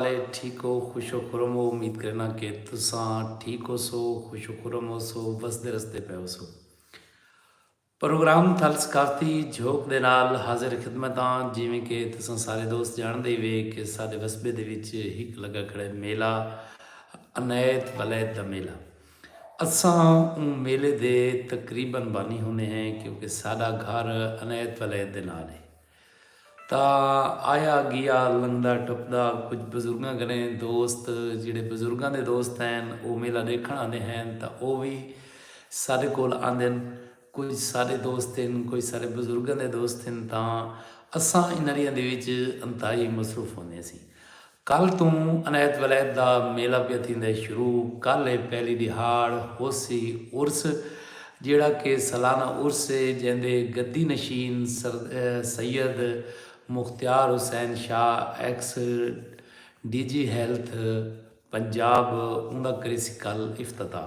والے ٹھیک ہو خوش و خرم ہو امید کریناں کہ تساں ٹھیک ہوسو خوش و خرم ہوسو وسدے رسدے پئے ہوسو پروگرام تھل ثقافتی جھوک دے نال حاضر خدمت ہاں جیویں کہ تساں سارے دوست جانڑدے ہی وے کہ ساڈے وسبے دے وچ ہک لگا کھڑے میلہ عنایت ولید دا میلہ اساں اوں میلے دے تقریبا بانی ہوندے ہیں کیونکہ ساڈا گھر عنایت ولید دے نال ہے۔ تاں آیا گیا لنگھدا ٹپدا کجھ بزرگاں کنے دوست جیڑھے بزرگاں دے دوست ہین او میلہ ڈیکھن آندے ہین تاں او وی ساڈے کول آندن کجھ ساڈے دوست ہن کجھ ساڈے بزرگاں دے دوست ہن تاں اساں انہریاں دے وچ انتہائی مصروف ہوندے ہسیں کل توں عنایت ولایت دا میلہ پیا تھیندے شروع کل اے پہلی ڈیہاڑ ہوسی عرس جیڑھا کہ سالانہ عرس اے جیندے گدی نشین sir Syed Mukhtiar Hussain Shah ex D G health Punjab اوندا کریسی کل افتتاح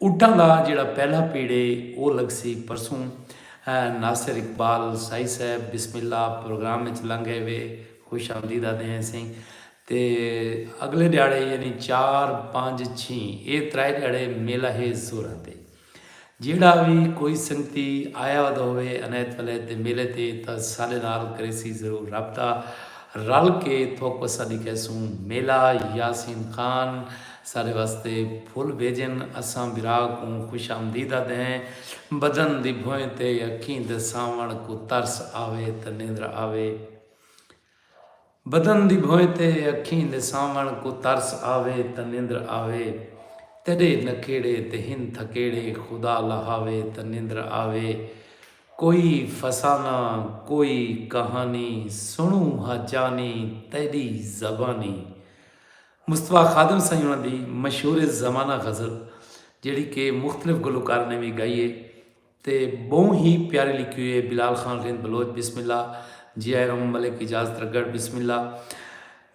اٹاں دا جیڑھا پہلا پیڑ اے او لگسی پرسوں ناصر اقبال سائی صاحب بسم اللہ پروگرام اچ لنگ گئے وے خوش آمدید آدھے ہیں سئیں تے اگلے ڈیاڑے یعنی چار پنج چھیں اے ترائے ڈیاڑے میلہ ہے زوراں تے جیڑھا وی کوئی سنگتی آیا ودا ہوئے عنایت ولید دے میلے تے تاں ساڈے نال کریسی ضرور رابطہ رل کے تھوک وسا دی کہسوں میلہ یاسین خان سارے واسطے پھل بھیجن اساں برا کوں خوش آمدید آدھے ہیں بدن دی بھوئیں تے اکھیں دے سانوڑ کوں ترس آوے تے نیندر آوے بدن دی بھوئیں تے اکھیں دے سانوڑ کوں ترس آوے تے نیندر آوے تیڈے نکھیڑے تے ہن تھکیڑے خدا لہاوے تے نیندر آوے کوئی فسانہ کوئی کہانی سنوں ہا جانی تیڈی زبانی مصطفی خادم سئیں انہاں دی مشہور زمانہ غزل جیڑھی کہ مختلف گلوکار نے وی گائی ہے تے بہوں ہی پیاری لکھی ہوئی ہے بلال خان رند بلوچ بسم اللہ جی آئے رم ملک اجاز ترگڑ بسم اللہ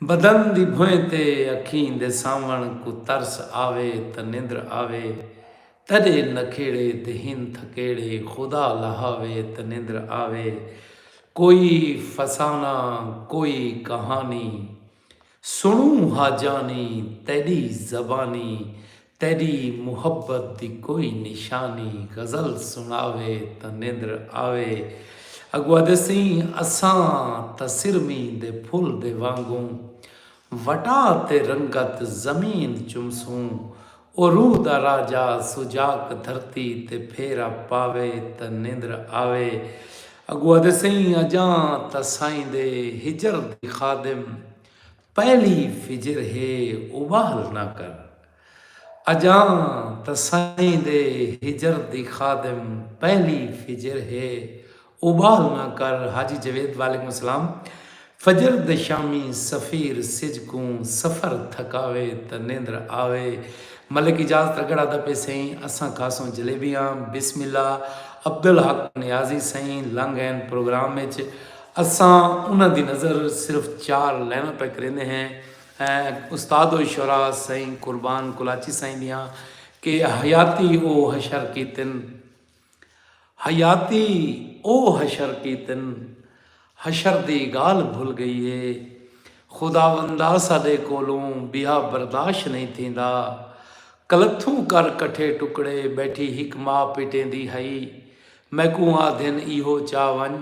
بدن دی بھوئیں تے اکھیں دے سامن کو ترس آوے تے نیندر آوے تڈے نکھیڑے تے ہن تھکیڑے خدا لہاوے تے نیندر آوے کوئی فسانہ کوئی کہانی سنڑوں ہا جانی تیڈی زبانی تیڈی محبت دی کوئی نشانی غزل سنڑاوے تاں نیندر آوے اگو آدھے سئیں اساں تاں سرمیں دے پھل دے وانگوں وٹا تے رنگت زمین چمسوں او روح دا راجہ سجاک دھرتی تے پھیرا پاوے تاں نندر آوے اگو آدھے سئیں اجاں تاں سائیں دے ہجر دی خادم پہلی فجر ہے او واہل نہ کر اجاں تاں سائیں دے ہجر دی خادم پہلی فجر ہے اوبال نہ کر حاجی جوید وعلیکم السلام فجر دے شامی سفیر سجھ کوں سفر تھکاوے تاں نیندر آوے ملک اجاز تگڑ آدا پے سئیں اساں کھاسوں جلیبیاں بسم اللہ عبدالحق نیازی سئیں لنگ ہین پروگرام اچ اساں انہاں دی نظر صرف چار لائناں پے کریندے ہیں استاد الشعراء سئیں قربان کلاچی سائیں دیاں کہ حیاتی او حشر کیتن حیاتی او حشر کیتن حشر دی گالھ بھل گئی ہے خداوندا ساڈے کولوں بیا برداشت نہیں تھیندا کلتھوں کر کٹھے ٹکڑے بیٹھی ہک ماء پیٹیندی ہئی میکوں آدھن ایہو چا ونج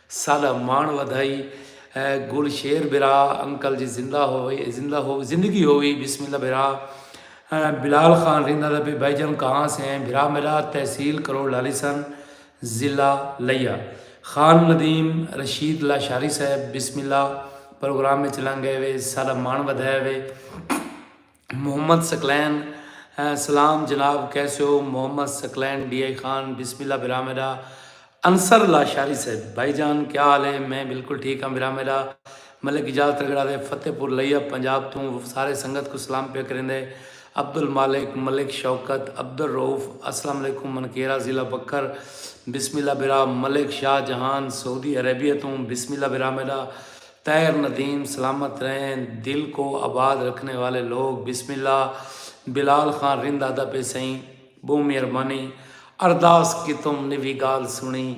ساڈا ماݨ ودھائی اے گل شیر بھرا انکل جی زندہ ہووے زندہ ہو زندگی ہووی بسم اللہ بھرا بلال خان ریندا دا پی بھائی جان کہاں سے ہیں بھرا میرا تحصیل کروڑ لالی سن ضلع لیا خان ندیم رشید لاشاری صاحب بسم اللہ پروگرام وچ لنگ گئے وے ساڈا ماݨ ودھایا وے۔ محمد ثقلین، سلام جناب کیسے ہو؟ محمد ثقلین، ڈی آئی خان بسم اللہ برا میڈا۔ انصر لاشاری صاحب، بھائی جان کیا حال ہے؟ میں بالکل ٹھیک ہاں برا میڈا۔ ملک اجاز ترگڑا دے فتح پور لیہ پنجاب توں سارے سنگت کوں سلام پیا کریندے۔ عبدالمالک، ملک شوکت، عبدالرؤف، السلام علیکم منکیرا ضلع بکھر بسم اللہ برا۔ ملک شاہ جہان سعودی عربیہ توں بسم اللہ برا میڈا۔ طاہر ندیم سلامت رہیں دل کو آباد رکھنے والے لوگ بسم اللہ بلال خان رند آدا پے سئیں بہوں مہربانی ارداس کیتم نوی گال سنڑی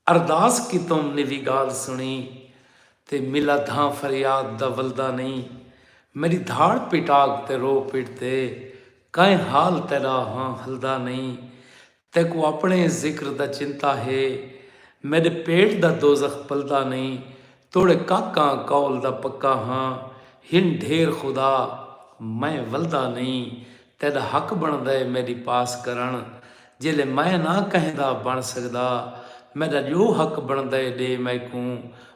ارداس کیتم نوی گال سنڑی تے ملا دھاں فریاد دا ولدا نئیں میڈی دھاڑ پیٹاگ تے رو پیٹ تے کائیں حال تیڈا ہاں ہلدا نئیں تیکوں اپݨے ذکر دا چنتا ہے۔ میݙے پیٹ دا دوزخ پلدا نئیں۔ توڑے کاکاں قول دا پکا ہاں۔ ہن ڈھیر خدا میں ولدا نئیں۔ تیݙا حق بݨدا ہے میݙی پاس کرݨ۔ جیلے میں نہ کہیں دا بݨ سڳدا۔ میݙا جو حق بݨدا ہے ݙے میکوں۔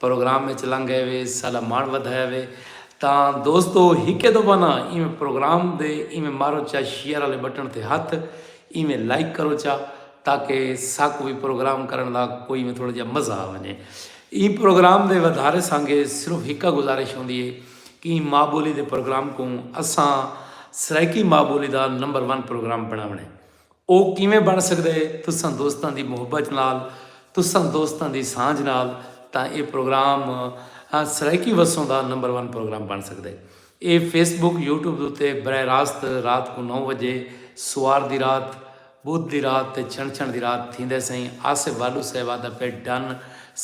پروگرام اچ لنگھ ایوے ساڈا ماݨ ودھایا وے تاں دوستو ہکے دفعہ نا ایویں پروگرام دے ایویں مارو چا شیئر آلے بٹن تے ہتھ ایویں لائک کرو چا تاکہ ساکوں وی پروگرام کرن دا کوئی ایویں تھوڑا جیا مزہ آ ونجے ایں پروگرام دے ودھارے سانگے صرف ہکا گزارش ہوندی ہے کہ ایں ماں بولی دے پروگرام کوں اساں سرائیکی ماں بولی دا نمبر ون پروگرام بناونے او کیویں بݨ سڳدا ہے؟ تساں دوستاں دی محبت نال، تساں دوستاں دی سانجھ نال تاں اے پروگرام سرائیکی وسوں دا نمبر ون پروگرام بݨ سڳدا ہے۔ اے فیس بک، یوٹیوب دے اتے براہ راست رات کوں نو وڄے، سوار دی رات، ٻدھ دی رات تے چھݨ چھݨ دی رات تھیندا ہے سئیں آصف والو صاحب آہدا پئے ڈن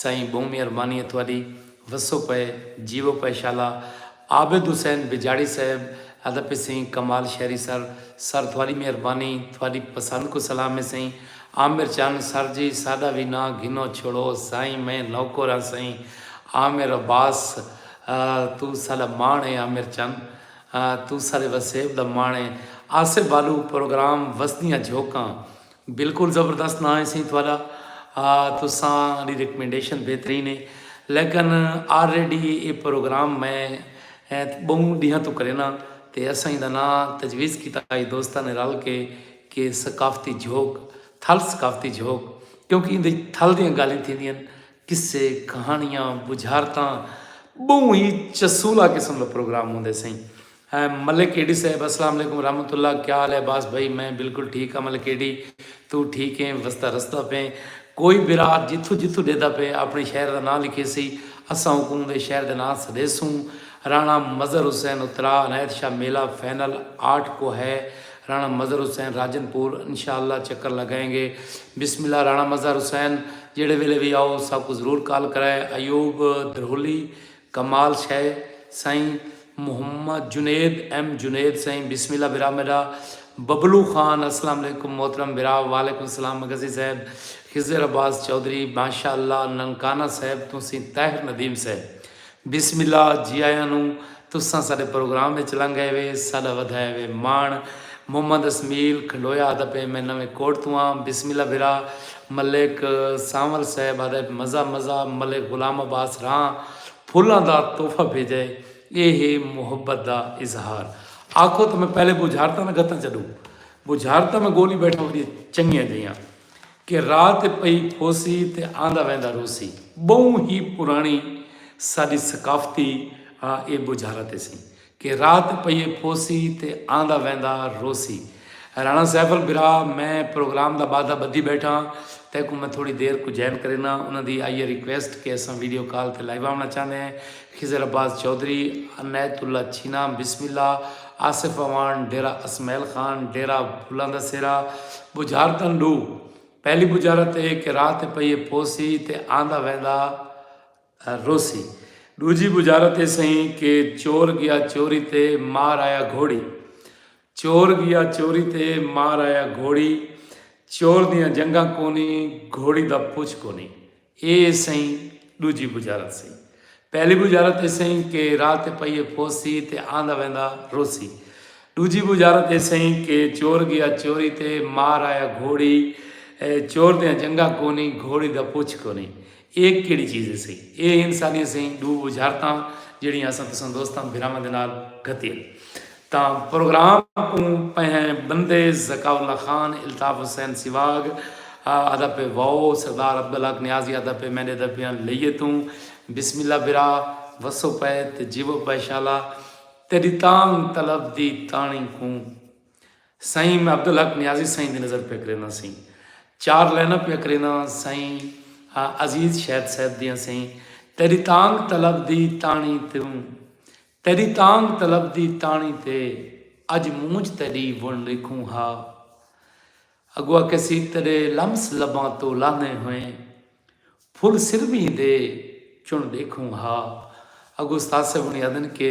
سئیں ٻہوں میہربانی ہے تہاݙی۔ وسو پئے جیو پئے شالا عابد حسین بجاڑی صاحب ادا پے سئیں کمال شہری سر سر تھواڈی مہربانی تھواڈی پسند کوں سلام ہے سئیں عامر چن سر جی ساڈا وی ناں گھنو چھوڑو سائیں میں نوکر ہاں سئیں عامر عباس توں ساڈا ماݨ ہے عامر چن توں ساڈے وسیب دا ماݨ ہے آصف بالو پروگرام وسدیاں جھوکاں بلکل زبردست ناں ہے سئیں تہاڈا تساں ڈی ریکمینڈیشن بہترین ہے لیکن آلریڈی اے پروگرام میں بہوں ڈینہاں توں کرینداں تے اساں ایندا ناں تجویز کیتا ہئی دوستاں نے رل کے کہ ثقافتی جھوک تھل ثقافتی جھوک کیونکہ ایندے وچ تھل دیاں گالھیں تھیندیاں ہن قصے کہانیاں بجھارتاں بہوں ہی چسولا قسم دا پروگرام ہوندے سئیں ہے ملک اے ڈی صاحب السلام علیکم ورحمت اللہ کیا حال ہے عباس بھائی میں بلکل ٹھیک ہاں ملک اے ڈی تو ٹھیک ایں وسدا رسدا پیں کوئی برا جتھوں جتھوں ڈیدا پے اپنے شہر دا ناں لکھیسی اساں اوکوں اوندے شہر دے ناں سڈیسوں رانا مظہر حسین اترا عنایت شاہ میلہ فینل آٹھ کو ہے رانا مظہر حسین راجن پور انشاء اللہ چکر لگائیں گے بسم اللہ رانا مظہر حسین جیڑھے ویلے وی آؤ ساکوں ضرور کال کرائے ایوب دھرولی کمال شے سائیں محمد جنید ایم جنید سائیں بسم اللہ برا میڈا ببلو خان اسلام علیکم محترم برا وعلیکم سلام مگسی صاحب خضر عباس چودھری ماشاء اللہ ننکانہ صاحب توں سیں طاہر ندیم صاحب بسم اللہ جی آیاں نو تساں ساڈے پروگرام اچ لنگ ائے وے ساڈا ودھایا وے ماݨ محمد اسمیل کھنڈویا آدھا پئے میں نویں کوٹ توں آں بسم اللہ برا ملک سانول صاحب آدھے مزہ مزہ ملک غلام عباس راں پھلاں دا تحفہ بھیجا ہے اے ہے محبت دا اظہار آکھو تاں میں پہلے بجھارتاں نہ گھتاں چڈو بجھارتاں میں گولی بیٹھا وڈیاں چنگیاں جیاں کہ رات پئی پھوسی تے آندا ویندا روسی بہوں ہی پرانی ساڈی ثقافتی اے بجھارت اسی کہ رات پئیے پوسی تے آندا ویندا روسی۔ رانا سیفل برا میں پروگرام دا بادھا بدھی بیٹھاں تیکوں میں تھوڑی دیر کوں جائن کرینا انہاں دی آئی ہے ریکویسٹ کہ اساں ویڈیو کال تے لائیو آونڑاں چاہندے ہیں خضر عباس چوہدری عنایت اللہ چھینا بسم اللہ آصف اعوان ڈیرہ اسمعیل خان ڈیرہ بھولاندہ سیرا بجھارتن ڈو پہلی بجھارت اے کہ رات پئیے پوسی تے آندا ویندا روسی ڈوجھی بجارت اے سئیں کہ چور گیا چوری تے مار آیا گھوڑی چور گیا چوری تے مار آیا گھوڑی چور دیاں جنگاں کونی گھوڑی دا پچھ کونی اے سئیں ڈوجھی بجارت سی پہلی بجارت اے سئیں کہ راہ تے پئیے پھوسی تے آندا ویندا روسی ڈوجھی بجارت اے سئیں کہ چور گیا چوری تے مار آیا گھوڑی چور دیاں جنگاں کونی گھوڑی دا پچھ کونی اے کیڑھی چیز ہے سئی؟ اے ہن ساڈیاں سئیں ڈو وجھارتاں جیڑھیاں اساں تساں دوستاں بھراواں دے نال گھتی ہن تاں پروگرام کوں پہنئیں بندے ذکاء اللہ خان، الطاف حسین سیواگ آدا پئے واؤ سردار عبدالحق نیازی آدا پئے میڈے دا پیاں لئیے توں بسم اللہ بھرا وسو پئے تے جیوو پئے شالا تیڈی تانگ طلب دی تانڑی کوں سائیں میں عبدالحق نیازی سائیں دی نظر پیا کرینداں سئیں چار لائناں پیا کرینداں سائیں عزیز شہد صاحب دیاں سئیں تیری تانگ طلب دی تانی توں تیری تانگ طلب دی تانی تے اج مونج تیری ون لکھوں ہا اگوا کے سی تیرے لمس لباں تو لانے ہوئے پھل سروی دے چن دیکھوں ہا اگو استاد صاحب نے آدن کے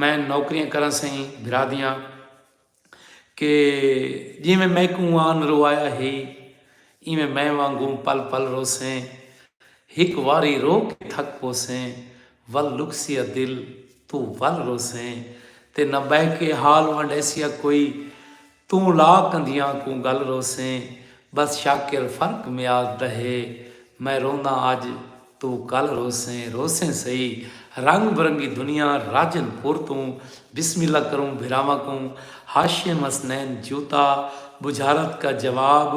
میں نوکریاں کراں سئیں بھرا دیاں کہ جیویں میکوں آن روایا ہئی ایویں میں وانگوں پل پل روسیں ہک واری رو کے تھک پوسیں ول لکسیا دل توں ول روسیں تے نہ بہہ کے حال ونڈیسیا کوئی توں لا کندھیاں کوں گل روسیں بس شاکر فرق میاد دا ہے میں رونداں اج توں کل روسیں روسیں سہی رنگ برنگی دنیا راجن پور توں بسم اللہ کروں بھراواں کوں ہاشم حسنین جوتا بجھارت کا جواب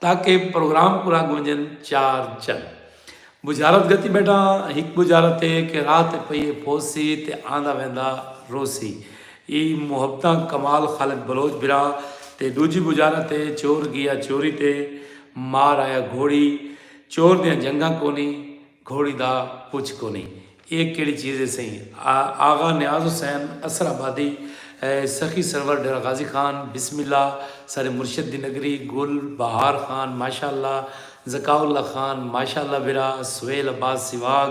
تاکہ پروگرام کولھا گونجن چار چن بجھارت گھتی بیٹھا ہاں ہک بجھارت اے کہ راہ تے پئیے پھوسی تے آندا ویندا روسی ای محبتاں کمال خالق بلوچ بھراں تے ڈوجھی بجھارت اے چور گیا چوری تے مار آیا گھوڑی چور دیاں جنگاں کونی گھوڑی دا پچھ کونی اے کیڑی چیز ہے سئیں آغا نیاز حسین اسر آبادی سخی سرور ڈیرہ غازی خان بسم اللہ سارے مرشد دی نگری گل بہار خان ماشاء اللہ ذکاء اللہ خان ماشاء اللہ بھرا سہیل عباس سیواگ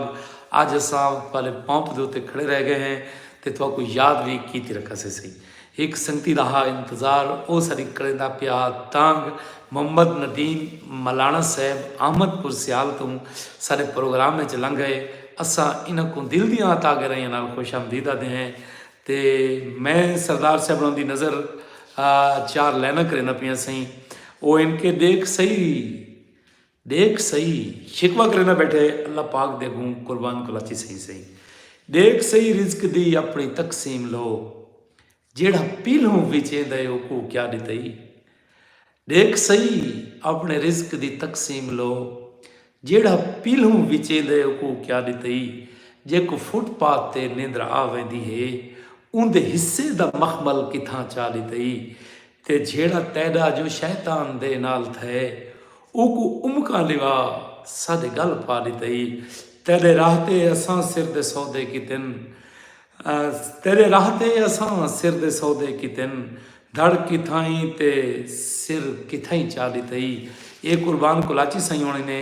اج اساں تہاڈے پمپ دے اتے کھڑے رہ گئے ہیں تے تہاکوں یاد وی کیتی رکھاسے سئیں۔ ہک سنگتی دا ہا انتظار او ساݙی کریندا پیا تانگھ محمد ندیم ملاݨہ صیب احمد پور سیال توں ساݙے پروگرام اچ لنگھ ائے اساں انہاں کوں دل دیاں عطا گہرائیاں نال خوش آمدید آدھے ہیں تے میں سردار صاحب ہوراں دی نظر چار لیناں کریندا پیاں سئیں او اینکے ݙیکھ سہی ڈیکھ سہی شکوہ کریندا بیٹھے اللہ پاک دے اگوں قربان کلاچی سہی سہی ڈیکھ سہی رزق دی اپنی تقسیم لو جیڑھا پیلھوں وچیندا اے اوکوں کیا ڈتئی ڈیکھ سہی اپنے رزق دی تقسیم لو جیڑھا پیلھوں وچیندا اے اوکوں کیا ڈتئی جیکوں فٹ پاتھ تے نیندر آ ویندی ہے اوندے حصے دا مخمل کتھاں چا ڈتئی تے جھیڑا تیڈا جو شیطان دے نال تھئے اوکوں امکاں لوا سد گل پا ڈتئی تیڈے راہ تے اساں سر دے سودے کیتن تیڈے راہ تے اساں سر دے سودے کیتن دھڑ کتھائیں تے سر کتھائیں چا ڈتئی اے قربان کلاچی سئیں ہونے نے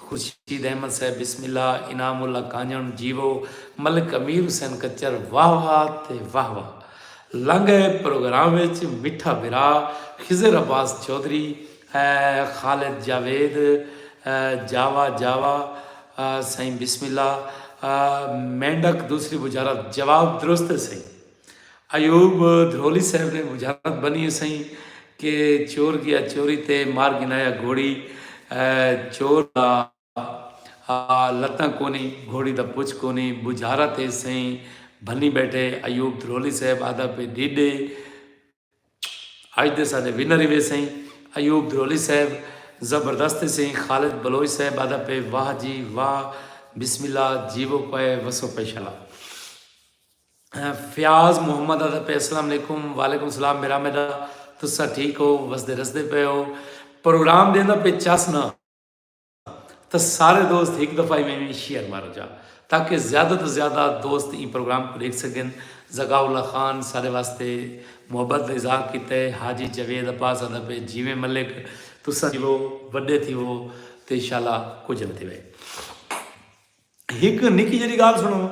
خورشید احمد صاحب بسم اللہ، انعام اللہ کانجݨ جیوو، ملک امیر حسین کچر واہ واہ تے واہ واہ۔ لنگھ آئے پروگرام وچ مٹھا بھرا خضر عباس چوہدری ء خالد جاوید جاوا جاوا سئیں بسم اللہ مینڈک دوسری بجارت جواب درست ہے سئیں۔ ایوب دھرولی صاحب نے بجھارت بنی ہے سئیں کہ چور گیا چوری تے مار گھنایا گھوڑی چور دا لتاں کونی گھوڑی دا پچھ کونی بجھارت ہے سئیں بھنی بیٹھے ایوب دھرولی صاحب آدھا پے ڈیڈے اج دے ساڈے ونر ایوے سئیں ایوب درولی صاحب زبردست تے سئیں خالد بلوچ صاحب آدا پے واہ جی واہ بسم اللہ جیوو پے وسو پے شلا فیاض محمد آدا پے السلام علیکم وعلیکم السلام میرا میدا تسا ٹھیک ہو وسدے رسدے پے ہو پروگرام دیندا پے چس نہ تاں سارے دوست ہک دفعہ ایویں ایویں شیئر مارو جا تاکہ زیادہ توں زیادہ دوست ایں پروگرام کوں ڈیکھ سگن زکاء اللہ خان سارے واسطے محبت دا اظہار کیتا ہے حاجی جاوید عباس آندا پئے جیویں ملک تساں جیوو وڈے تھیوو تے انشاءاللہ کجھ نہ تھیوے ہک نکی جیڑی گال سنو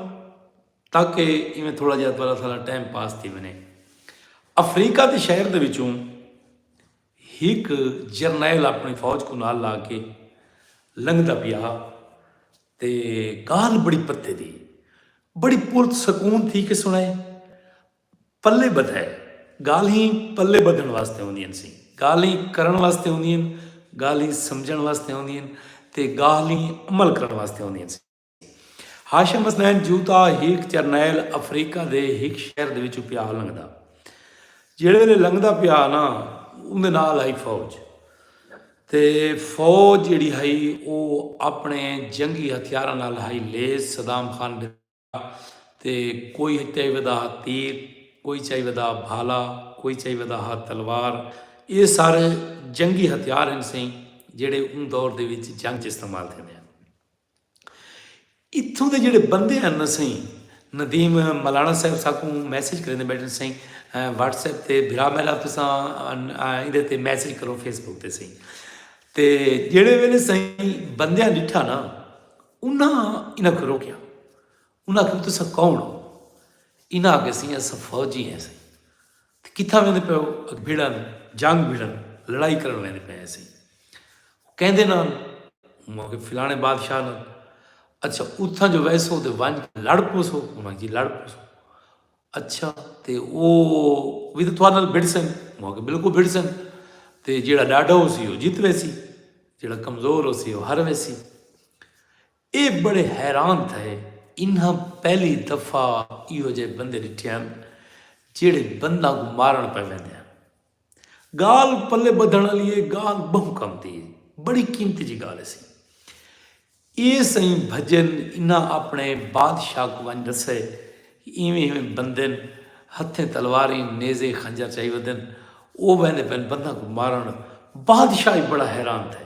تاکہ ایویں تھوڑا جہا تھوڑا سارا ٹائم پاس تھی ونے افریقہ دے شہر دے وچوں ہک جرنیل اپݨی فوج کوں نال لا کے لنگھدا پیا ہا تے ڳالھ بڑی پتے دی بڑی پرت سکون تھی کے سݨائے۔ پلے ٻدھائے۔ ڳالھیں پلے ٻدھݨ واسطے ہوندین سین۔ ڳالھیں کرݨ واسطے ہوندین۔ ڳالھیں سمجھݨ واسطے ہوندین تے ڳالھیں عمل کرݨ واسطے ہوندین سین۔ ہاشم حسنین جوتا ہیک چرنیل افریقہ دے ہیک شہر دے وچوں پیا لنگدا جیڑے ویلے لنگدا پیا نا اون دے نال ہائی فوج تے فوج جیڑی ہائی او اپنے جنگی ہتھیاراں نال ہائی لیس صدام خان دے تے کوئی چاہی ودا تیر کوئی چاہی ودا بھالا کوئی چاہی ودا ہا تلوار اے سارے جنگی ہتھیار ہیں سیں جیڑے اون دور دے وچ جنگ چ استعمال تھے ہیں اتھوں دے جیڑھے بندے ہن نا سئیں ندیم ملانا صاحب ساکوں میسج کریندے بیٹھے سئیں واٹس ایپ تے بھرا میرا تساں ایندے تے میسج کرو فیس بک تے سئیں تے جیڑھے ویلے سئیں بندیاں ڈٹھا نا انہاں انہاں کو روکیا انہاں کہ تساں کون ہو انہاں کہ سئیں اساں فوجی ہیں سئیں تیں کتھاں ویندے پئے ہو؟ اک بھیڑن جنگ بھیڑن لڑائی کرن ویندے پئے ہیسے۔ او کیندے نال؟ موں آکھیا فلانے بادشاہ نال۔ اچھا اتھاں جو ویسو تے ونج کے لڑ پوسو؟ موں آکھیا جی لڑ پوسو۔ اچھا تے او وی تے تھوڑے نال بھڑسن؟ موں آکھیا بالکل بھڑسن۔ تے جیڑا ڈاڈھا ہوسی او جیت ویسی۔ جیڑا کمزور ہوسی او ہر ویسی۔ اے بڑے حیران تھئے۔ انہاں پہلی دفعہ ایہو جئے بندے ڈٹھے ہن جیہڑے بنداں کوں مارن پئے ویندے ہن۔ گالھ پلے بدھن آلی اے گالھ بہوں کم دی اے۔ بڑی قیمتی جی گالھ اسی۔ اے سئیں بھجن انہاں اپنے بادشاہ کوں ونج ڈسئے کہ ایویں ایویں بندن ہتھیں تلواریں نیزے خنجر چائی ودن او ویندے پئن بنداں کوں مارن۔ بادشاہ ای بڑا حیران تھئے۔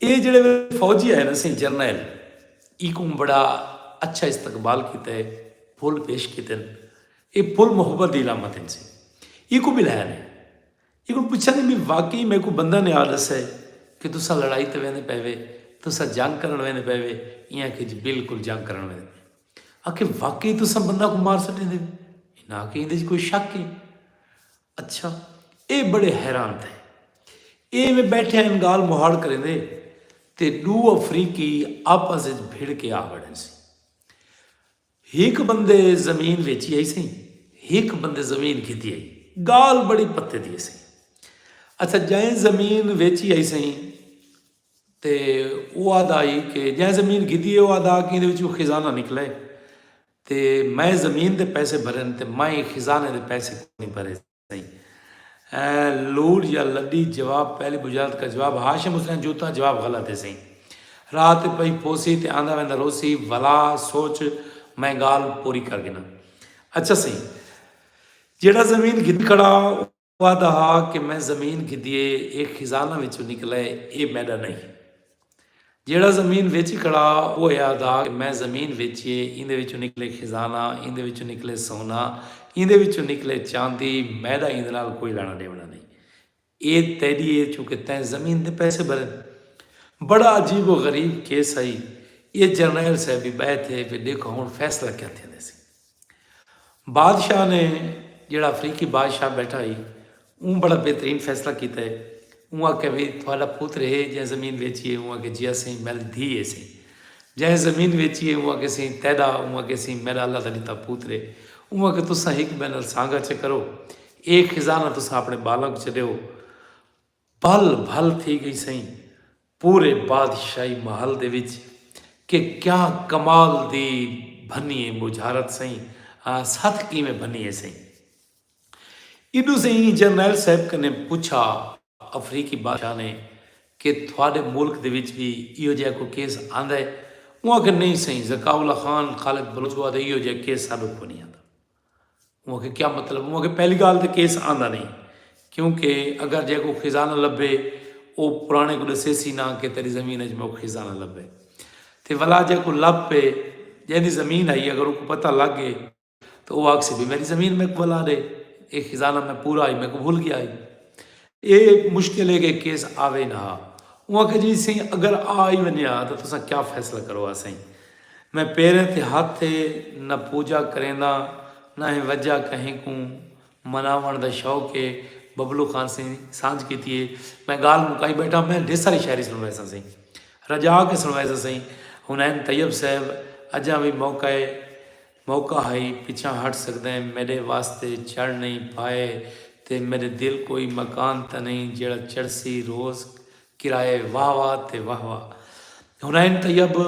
اے جیڑھے فوجی آئے نسیں جرنیل ایکوں بڑا اچھا استقبال کیتا ہے پھل پیش کیتن اے پھل محبت دی علامت ہیں سی ایکوں بلایا نے ایکوں پوچھا نے میں واقعی میں کو بندہ نے آ دسا ہے کہ تسا لڑائی تے ویندے پے وے تسا جنگ کرن ویندے پے وے ایاں کہ جی بالکل جنگ کرن ویندے پے آکھے واقعی تسا بندہ کو مار سٹے دے نا کہ ایندے کوئی شک ہے اچھا اے بڑے حیران تھئے۔ اے ایویں بیٹھے ہن گالھ مہاڑ کریندے تے ڈو افریقی آپس اچ بھڑ کے آ بڑھے سیں۔ ہک بندے زمین ویچی ہئی سی ہک بندے زمین گھدی ہئی۔ گالھ بڑی پتے دی سی۔ اچھا جئیں زمین ویچی ہئی سی تے او آدھا ہئی کہ جئیں زمین گھدی ہے او آدھا کہ ایندے وچوں خزانہ نکلے۔ تے میں زمین دے پیسے بھرن تے میں خزانے دے پیسے کونی بھرے سئیں۔ ایں لوڈ یا لڈی جواب پہلی بجارت کا جواب ہاشم حسین جوتاں جواب غلط ہے سئیں۔ راہ تے پئی پوسی تے آندا ویندا روسی ولا سوچ میں گالھ پوری کر گھناں۔ اچھا سئیں جیڑھا زمین گھن کھڑا او۔ او آہدا ہا کہ میں زمین گھدی اے اے خزانہ وچوں نکلے اے میڈا نئیں جیڑا زمین ویچی کھڑا او اے آہدا کہ میں زمین ویچی اے ایندے وچوں نکلے خزانہ ایندے وچوں نکلے سونا ایندے وچوں نکلے چاندی میڈا ایندے نال کوئی لانا ڈیونا نہیں اے تیڈی اے چونکہ تیں زمین دے پیسے بھرے بڑا عجیب و غریب کیس ہئی اے جرنیل صاحب بھی بہت ہے پھر دیکھو ہن فیصلہ کیا تھیندے سی بادشاہ نے جیڑھا افریقی بادشاہ بیٹھا ہی اوں بڑا بہترین فیصلہ کیتا ہے اوں آکھیا وی تہاڈا پتر ہے جیں زمین ویچی ہے اوں آکھیا جی اسیں میڈی دھی ہے سیں جیں زمین ویچی ہے اوں آکھیا سیں تیڈا اوں آکھیا سیں میڈا اللہ دا ڈتا پتر ہے اوں آکھیا تساں ہک بے نال سانگا چے کرو اے خزانہ تساں اپنے بالاں کوں چڈیو بھل بھل تھی گئی سئیں پورے بادشاہی محل دے وچ کہ کیا کمال دی بھنی اے بجھارت سئیں ستھ کیویں بھنی اے سئیں ایڈو سئیں جرنیل صاحب کنے پچھا افریقی بادشاہ نے کہ تھوڑے ملک دے وچ بھی ایو جہ کو کیس آندے اوں آکھے نہیں سئیں زکاء اللہ خان خالد بلوچ وادے ایو جہ کیس ساڈو کونی آندا اوں آکھیا کیا مطلب؟ اوں آکھیا پہلی گالھ تے کیس آندا نہیں کیونکہ اگر جے کو خزانہ لبھے او پرانے کو ڈسے سی نہ کہ تیری زمین اچ موک خزانہ لبھے تے ولا جے کو لب پے جیندی زمین آئی اگر اوکو پتہ لگ گئے تو او آکھسی بھی میری زمین میکو ولا ڈے اے خزانہ میں پورا آئی میکو بھول گیا آئی اے مشکل اے کہ کیس آوے نہ ہا۔ اوں آکھیا جی سئیں اگر آ ای ونجے ہا تاں تساں کیا فیصلہ کرو ہا سئیں۔ میں پیریں تے ہتھ تے نہ پوجا کرینداں نہ ہیں وجہ کہیں کوں مناوݨ دا شوق اے ببلو خان سئیں سانجھ کیتی اے۔ میں گالھ مکائی بیٹھاں میں ڈھیر ساری شاعری سنڑویساں سئیں۔ رجا کے سنڑویساں سئیں۔ حنین طیب صاحب اجاں وی موقع اے۔ موقع ہئی پچھاں ہٹ سگدیں میڈے واسطے چڑھ نئیں پائے تے میڈے دل کوئی مکان تاں نئیں جیڑھا چڑھسی روز کرائے واہ واہ تے واہ واہ حنین طیب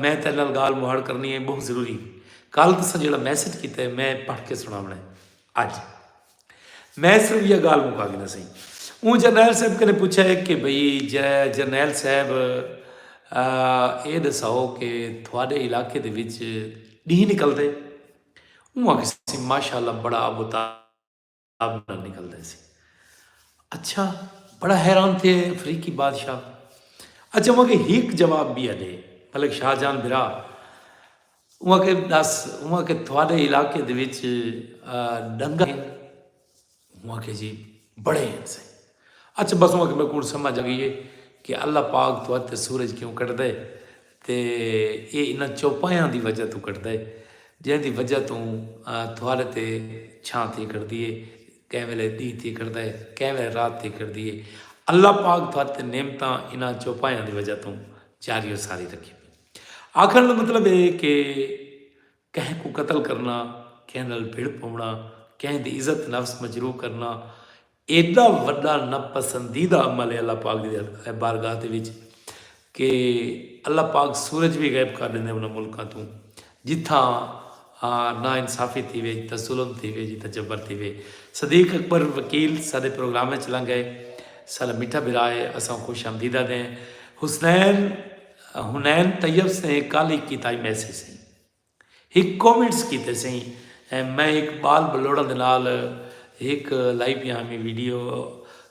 میں تیڈے نال گالھ مہاڑ کرنی اے بہوں ضروری کالھ تساں جیڑھا میسج کیتا اے میں پڑھ کے سنڑاونڑ اے۔ اج میں صرف یہ گال مکا گنا سہی اون جرنیل صاحب کنے پوچھا ہے کہ بھئی جے جرنیل صاحب اے دساؤ کہ تھوڑے علاقے دے وچ ڈی نکل دے اون آکھ سی ماشاءاللہ بڑا ابو تاب نکل دے سی اچھا بڑا حیران تھے افریقی بادشاہ اچھا مگر ہیک جواب بھی ہے دے ملک شاہ جان برا اوہ آکھے ڈس اوہ کہ تھوڑے علاقے دے وچ ڈنگر ہیں اوہ آکھے جی بڑے ہیں سے اچھا بس اوہ کہ میں کون سمجھ آ گئی ہے کہ اللہ پاک تو تے سورج کیوں کٹ دے تے اے انہاں چوپایاں دی وجہ تو کٹ دے جن دی وجہ تو تھوڑے تے چھاں تھی کر دیے کہیں ویلے دی تھی کر دے کہیں ویلے رات تھی کر دیے اللہ پاک تو تے نعمتاں انہاں چوپایاں دی وجہ تو جاری و ساری رکھی آکھنڑ دا مطلب اے کہ کہیں کوں قتل کرنا، کہیں نال بھڑ پونڑا، کہیں دی عزت نفس مجروح کرنا ایڈا وڈا ناپسندیدہ عمل اے اللہ پاک دی بارگاہ دے وچ کہ اللہ پاک سورج وی غائب کر ڈیندے انہاں ملکاں توں جتھاں نا انصافی تھیوے جتھاں ظلم تھیوے جتھاں جبر تھیوے صدیق اکبر وکیل سارے پروگرام وچ لنگے سارا میٹھا بھرا ہے اساں خوش آمدیدہ دیں حسنین حنین طیب سے کل ہک کیتائی میسج سے ہک کومنٹس کیتے سے میں ہک بال بلوڑاں دے نال ہک لائی پیا ہمیں ویڈیو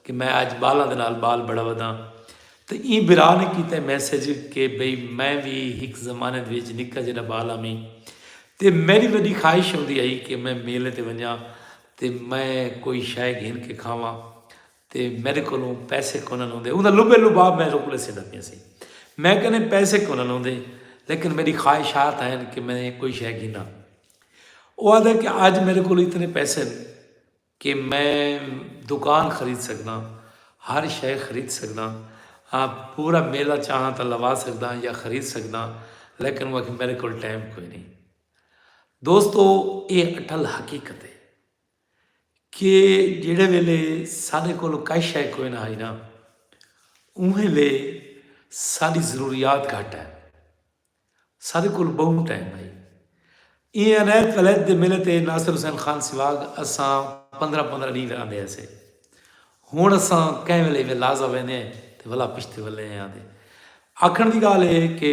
کہ میں اج بالاں دے نال بال بڑا وداں تے ایں برا نے کیتے میسج کہ بھئی میں بھی ہک زمانے دے وچ نکا جڑا بال ہمیں تے میری وڈی خواہش ہوندی آئی کہ میں میلے تے ونجاں تے میں کوئی شے گھن کے کھاواں تے میڈے کولوں پیسے کونہن ہوندے اوندا لبے لباب میں رک لے سیندا پیا سی میں کنے پیسے کونہن ہوندے لیکن میڈی خواہشات ہین کہ میں کوئی شے گھنا او آدھے کہ اج میڈے کولوں اتنے پیسے ہیں کہ میں دکان خرید سکدا ہر شے خرید سکدا پورا میلہ چاہاں تا لوا سکدا یا خرید سکدا لیکن وہ کہ میڈے کول ٹائم کوئی نہیں دوستو اے اٹھل حقیقت ہے کہ جیڑھے ویلے ساݙے کولھ کائ شئے کوئ نہ ہئی نا اونہے لے ساݙی ضروریات گھٹ ہن ساݙے کولھ ٻہوں ٹائم ہئی ایں عنایت ولیت دے میلے تے ناصر حسین خان سواڳ اساں پندرہ پندرہ ݙینہ آندے ہسے ہݨ اساں کہیں ویلے ایویں لازہ ویندے تے ولا پشتے ولے آندے آکھݨ دی ڳالھ اے کہ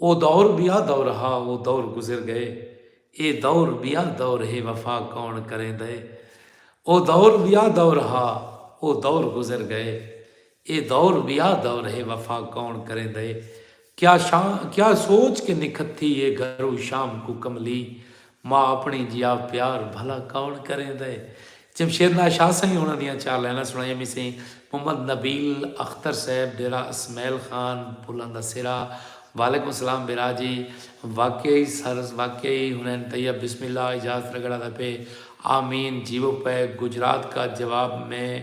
او دور ٻیا دور ہا او دور گزر ڳئے اے دور ٻیا دور ہے وفا کوݨ کریندے او دور ٻیا دور ہا او دور گزر ڳئے اے دور ٻیا دور ہے وفا کوݨ کریندے کیا شام کیا سوچ کے نکھت تھی اے گھرو شام کوں کملی ماء اپݨی جیا پیار بھلا کون کریندا ہے۔ جمشید ناز شاہ سئیں ہوݨاں دیاں چار لائناں سݨائیاں وی سئیں۔ محمد نبیل اختر صاحب ڈیرہ اسمعیل خان پھلاں دا سرا وعلیکم السلام برا جی واقعی سر واقعی حنین طیب بسم اللہ اجاز رگڑا دا پے آمین جیوو پے گجرات کا جواب میں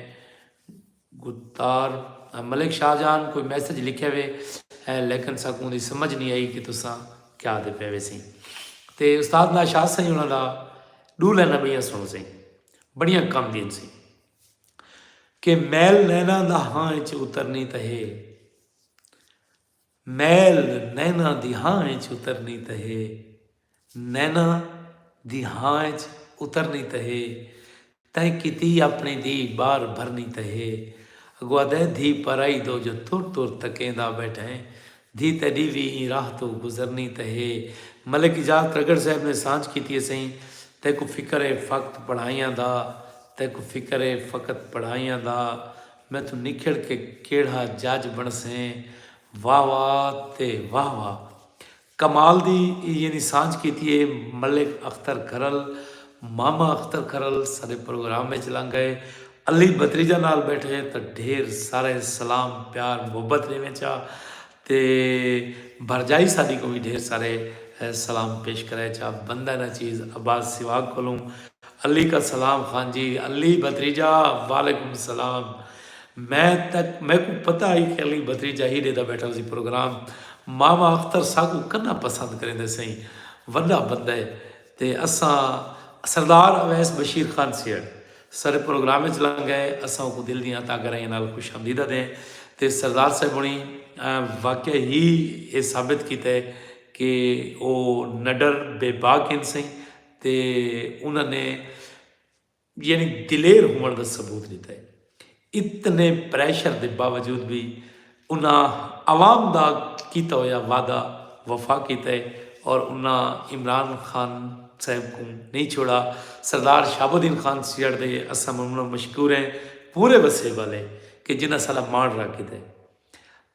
گتار ملک شاہ جان کوئی میسج لکھیا وے ہے لیکن ساکوں دی سمجھ نی آئی کہ تساں کیا آدھے پے وے سیں تے استاد ناشاد سائیں انہاں دا ڈو لینا بڑیاں سنو سیں بڑیاں کم دین سیں کہ میل نینا دا ہاں اچ اترنی تہے میل نیناں دی ہاں اچ اترنی تاں ہے۔ نیناں دی ہاں اچ اترنی تاں ہے۔ تئیں کیتی اپݨی دھی ٻار بھرنی تاں ہے۔ اڳوں آہدا ہے دھی پرائی دو جو تر تر تکیندا ٻیٹھیں۔ دھی تیݙی وی ایں راہ توں گزرنی تاں ہے۔ ملک اجاز ترگڑ صاحب نے سانجھ کیتی ہے سئیں تیکوں فکر ہے فقط پڑھائیاں دا تیکوں فکر ہے فقط پڑھائیاں دا۔ میتھوں نکھڑ کے کیڑھا جج بنڑسیں واہ واہ تے واہ واہ کمال دی یعنی سانجھ کیتی اے ملک اختر کھرل ماما اختر کھرل ساڈے پروگرام اچ لنگ گئے علی بتریجہ نال بیٹھے تاں ڈھیر سارے سلام پیار محبت ڈیویں چا تے بھرجائی ساڈی کوں وی ڈھیر سارے سلام پیش کرے چا بندہ نا چیز عباس سواگ کولوں علی کا سلام خان جی علی بھتریجا وعلیکم سلام میں تک میکوں پتہ ہئی کہ علی بھتریجا ہی ڈیدا بیٹھا ہوسی پروگرام ماما اختر ساکوں کنا پسند کریندے سئیں وڈا بندہ ہے تے اساں سردار اویس بشیر خان سیہڑ سر پروگرام اچ لنگ گئے اساں اوکوں دل دیاں تا گرائیاں نال خوش آمدید آدھیں تے سردار صاحب ہنڑیں واقع ہی اے ثابت کیتا ہے کہ او نڈر بے باک ہن سئیں تے انہاں نے یعنی دلیر ہووݨ دا ثبوت ݙتا ہے۔ اتنے پریشر دے باوجود وی انہاں عوام دا کیتا ہویا وعدہ وفا کیتا ہے اور انہاں عمران خان صاحب کوں نئیں چھوڑا۔ سردار شہاب الدین خان سیہڑ دے اساں انہاں مشکور ہیں پورے وسیب آلے کہ جنہاں ساݙا ماݨ رکھ کیتا ہے۔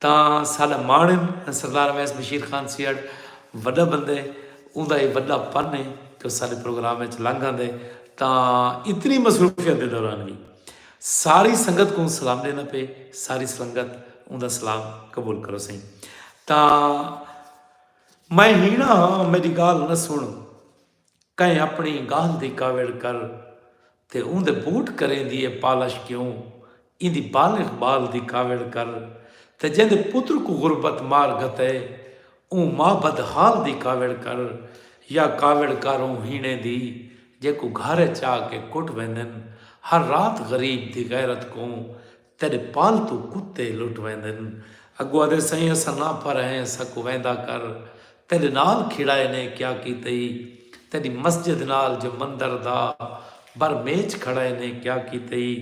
تاں ساڈا ماݨ ہن سردار اویس بشیر خان سیہڑ وڈا بندہ ہے اوندا اے وڈا پن ہے جو ساڈے پروگرام اچ لنگ آندے تاں اتنی مصروفیت دے دوران وی ساری سنگت کوں سلام ڈیندا پئے ساری سلنگت اوندا سلام قبول کرو سئیں تاں میں ہینا ہاں میڈی گالھ نہ سن کئیں اپݨی ڳالھ دی کاوڑ کر تے اوندے بوٹ کریندی اے پالش کیوں ایندی بالغ ٻال دی کاوڑ کر تے جیندے پتر کوں غربت مار گھتے اوں ماء بد حال دی کاوڑ کر یا کاوڑ کر اوں ہیݨیں دی جیکوں گھر اچ آ کے کٹ ویندن ہر رات غریب دی غیرت کوں تیڈے پالتو کتے لٹ ویندن۔ اگو آدھے سائیں اساں نہ پھر ہیں اساں کو ویندا کر تیڈے نال کھیڑائے نے کیا کیتئی تیڈی مسجد نال جو مندر دا بر میچ کھڑائے نے کیا کیتئی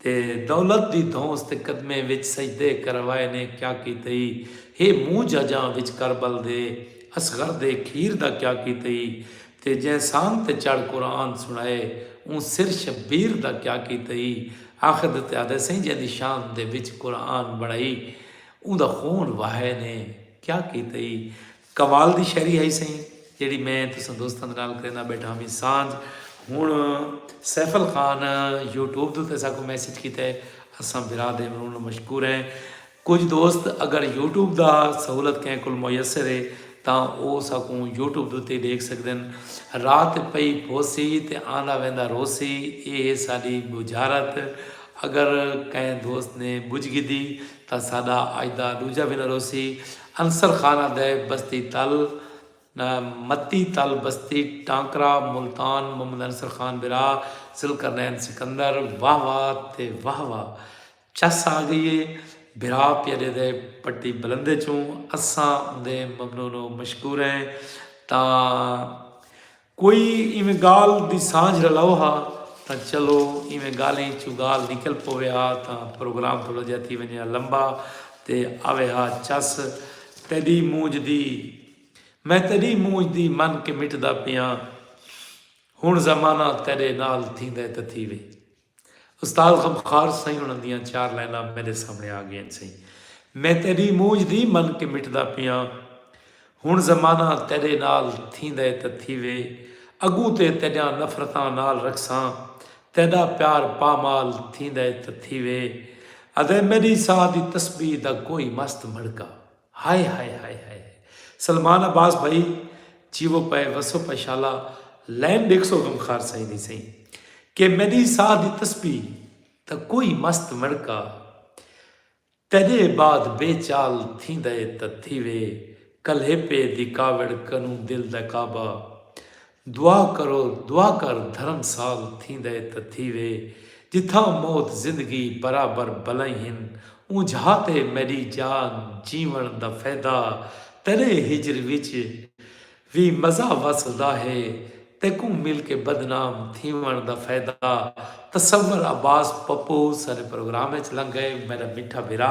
تے دولت دی دھونس تے قدمیں وچ سجدے کروائے نے کیا کیتئی ہے مونجھ اجاں وچ کربل دے اصغر دے کھیر دا کیا کیتئی تے جئیں سانگ تے چڑھ قرآن سنڑائے اوں سر شبیر دا کیا کیتے ای آخد تے آدھے سئیں جئیں دی شان دے وچ قرآن بنڑائی اوں دا خون وہائے نے کیا کیتے ای کمال دی شاعری ہئی سئیں جیڑھی میں تساں دوستاں دے نال کریندا بیٹھا ہاں وی سانجھ ہن سیفل خان یوٹیوب دے اتے ساکوں میسج کیتے اساں برا دے مروں مشکور ہیں۔ کجھ دوست اگر یوٹیوب دا سہولت کہیں کول میسر ہے تاں او ساکوں یوٹیوب دے اتے ڈیکھ سگدن۔ رات پئی پوسی تے آندا ویندا روسی اے ہے ساڈی بجھارت۔ اگر کہیں دوست نے بجھ گھدی تاں ساڈا اج دا ڈوجھا وینہ روسی۔ انصر خان آندے بستی تل متی تل بستی ٹانکرا ملتان محمد انصر خان برا ذوالقرنین سکندر واہ واہ تے واہ واہ چس آ گئی ہے بھرا پیارے دے پٹی بلندے چوں اساں اوندے ممنون و مشکور ہیں تاں کوئی ایویں گال دی سانجھ رلاؤ ہا تاں چلو ایویں گالیں چوں گال نکل پوے ہا تاں پروگرام تھوڑا جہا تھی ونجے ہا لمبا تے آوے ہا چس تیڈی مونج دی میں تیڈی مونج دی من کے مٹدا پیاں ہن زمانہ تیڈے نال تھیندے تے تھی وے استاد غمخوار سئیں انہاں دیاں چار لائناں میڈے سامنے آ گئین سئیں میں تیڈی مونجھ دی من کے مٹدا پیاں ہن زمانہ تیڈے نال تھیندے تاں تھیوے اگوں تے تیڈیاں نفرتاں نال رکھساں تیڈا پیار پامال تھیندے تاں تھیوے ادے میڈی ساہ دی تسبیح دا کوئی مست مڑکا ہائے ہائے ہائے ہائے ہائے سلمان عباس بھائی جیو پائے وسو پائے شالا لین دیکھ سو غم خار سائیں دی سائیں کہ میری ساہ دی تسبیح تا کوئی مست مڑکا تیرے بعد بے چال تھی دے تا تھی وے کلہے پے دی کاوڑ کنوں دل دا کعبہ دعا کرو دعا کر دھرم سال تھیندا اے تاں تھیوے جتھاں موت زندگی برابر بلائیں ہن اونجھا تے میڈی جان جیون دا فیدہ تیڈے ہجر وچ وی مزہ وسدا ہے تیکوں مل کے بدنام تھیون دا فیدہ تصور عباس پپو ساڈے پروگرام اچ لنگ گئے میڈا میٹھا بھرا۔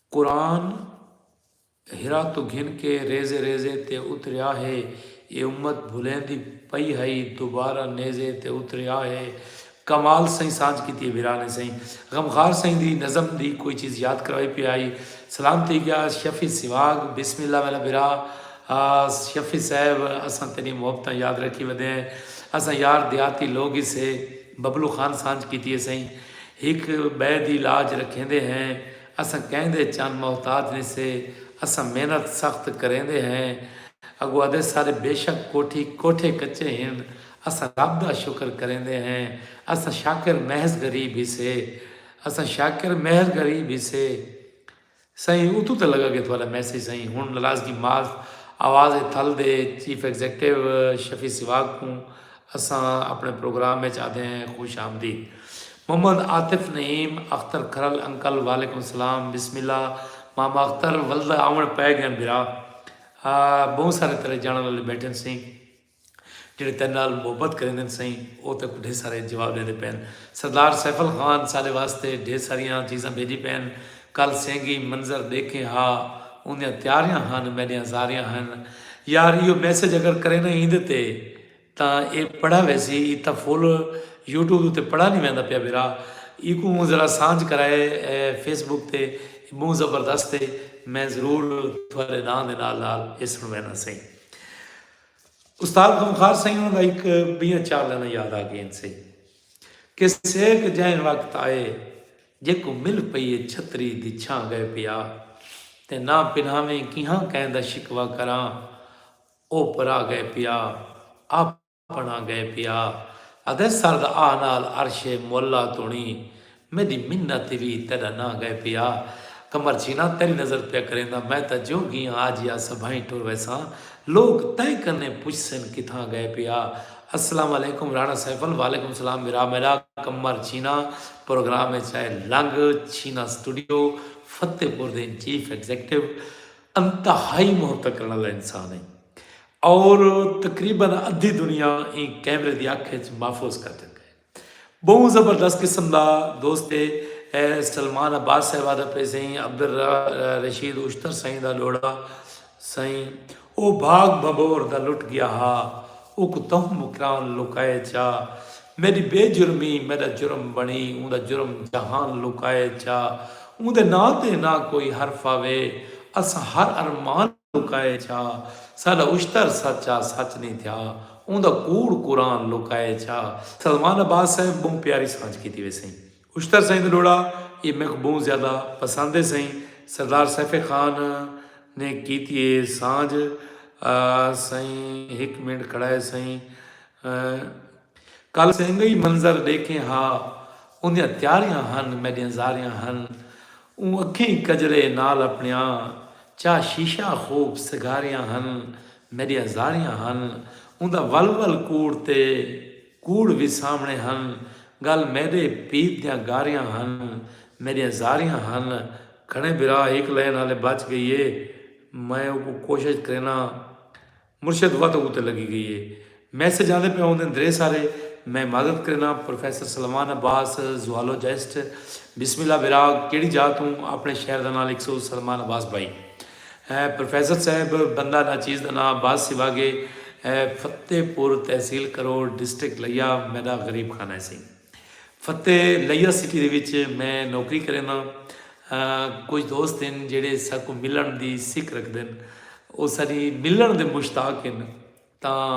قرآن حرا توں گھن کے ریزے ریزے تے اتریا ہے اے امت بھلیندی پئی ہئی دوبارہ نیزے تے اتریا ہے کمال سئیں سانجھ کیتی ہے بھرا نے سئیں غمخوار سئیں دی نظم دی کوئی چیز یاد کرائی پیا ہئی سلام تھی گیا شفیع سواگ بسم اللہ میرا بھرا شفیع صاحب اساں تیڈیاں محبتاں یاد رکھی ودے ہیں اساں یار دیہاتی لوگ ہی سے ببلو خان سانجھ کیتی ہے سئیں ہک بئے دی لاج رکھیندے ہیں اساں کہیں دے چن محتاج نی سے اساں محنت سخت کریندے ہیں اگو ادے سارے بیشک کوٹھی کوٹھے کچے ہن اساں رب دا شکر کریندے ہیں اساں شاکر محض غریب ہی سے اساں شاکر محض غریب ہی سے سائیں اتو تے لگا گے تھوڑا میسج سائیں ہن ناراضگی معاف آواز تھل دے چیف ایگزیکٹو شفیع سواگ کوں اساں اپݨے پروگرام اچ آدھیں خوش آمدید محمد عاطف نعیم اختر کھرل انکل وعلیکم السلام بسم اللہ ماما اختر ولدا آوݨ پئے گئن بھرا بہوں سارے تیرے جانڑ والے بیٹھن سئیں جڑے تیرے نال محبت کریندن سئیں او تے کو ڈھیر سارے جواب ڈیندے پئن سردار سیفل خان ساڈے واسطے ڈھیر ساریاں چیزاں بھیجی پئن کل سینگی منظر ڈیکھیں ہا اوندیاں تیاریاں ہن میڈیاں زاریاں ہن یار ایو میسج اگر کرینا ایندے تے تاں اے پڑھا ویسی ای تاں فل یوٹیوب اتے پڑھا نی ویندا پیا بھرا ایکوں موں ذرا سانجھ کرائے فیس بک تے اے بہوں زبردست اے میں ضرور تھوڑے ناں دے نال نال اے سن وینا سئیں استاد غمخار سئیں انہاں دا ایک بیاں چار لینا یاد آ گئین سئیں کہ سیک جائن وقت آئے جے کو مل پئی اے چھتری دی چھاں گئے پیا تے نہ پنہاویں کیہاں کہیں دا شکوا کراں اوپرا گئے پیا آپنڑاں گئے پیا ادے سرد آہ نال عرش معلی تونی میڈی منت وی تیڈا ناں گئے پیا قمر چینا تیڈی نظر پیا کریندا میں تاں جو گیاں آجیا سبھائیں ٹر ویساں لوک تیں کنیں پچھسن کتھاں گئے پیا السلام علیکم رانا سیفل وعلیکم سلام بھرا میڈا قمر چینا پروگرام اچ آئے لنگ چینا سٹوڈیو فتح پور دیں چیف ایگزیکٹو انتہائی محبت کرݨ آلا انسان ہئی اور تقریبا ادھی دنیا ایں کیمرے دی اکھ اچ محفوظ کر ڈتا ہے۔ بہوں زبردست قسم دا دوست ہے۔ سلمان عباس صاحب آدھا پئے سئیں عبدالرشید اشتر سئیں دا لوڑا سئیں او بھاگ بھبور دا لٹ گیا ہا اوکوں تہوں مکران لکائے چا میݙی بے جرمی میݙا جرم بݨی اوندا جرم جہان لکائے چا اوندے ناں تے نہ کوئی حرف آوے اساں ہر ارمان لکائے چا ساݙا اشتر سچ آ سچ نی تھیا اوندا کوڑ قرآن لکائے چا سلمان عباس صاحب ٻہوں پیاری سانجھ کیتی ویسئیں اشتر سئیں دا ݙوہڑا ایہ میکوں ٻہوں زیادہ پسند ہے سئیں سردار سیف خان نے کیتی ہے سانجھ سئیں ہک منٹ کھڑا ہے سئیں کل سنگئی منظر ݙیکھیں ہا اوندیاں تیاریاں ہن میݙیاں زاریاں ہن اوں اکھیں کجرے نال اپݨیاں چا شیشہ خوب سگھاریاں ہن میݙیاں زاریاں ہن اوندا ول ول کوڑ تے کوڑ وی سامݨے ہن ڳل میݙے پھیت دیاں گاریاں ہن میݙیاں زاریاں ہن گھݨے بھرا ہک لین ہالے بچ ڳئی اے میں اوکوں کوشش کرینداں مرشد وت اتے لڳی ڳئی اے میسج آندے پئے ہوندن درے سارے میں معذرت کرینداں پروفیسر سلمان عباس زوالوجسٹ بسم اللہ بھرا کیڑھی جاہ توں اپݨے شہر دا ناں لکھسو سلمان عباس بھائی اے پروفیسر صاحب بندہ نا چیز دا ناں باز سوا گے اے فتح پور تحصیل کروڑ ڈسٹرکٹ لیا میڈا غریب خانہ اے سئیں فتح لیا سٹی دے وچ میں نوکری کرینداں کچھ دوست ہن جیڑھے ساکوں ملن دی سک رکھدن او ساڈی ملن دے مشتاق ہن تاں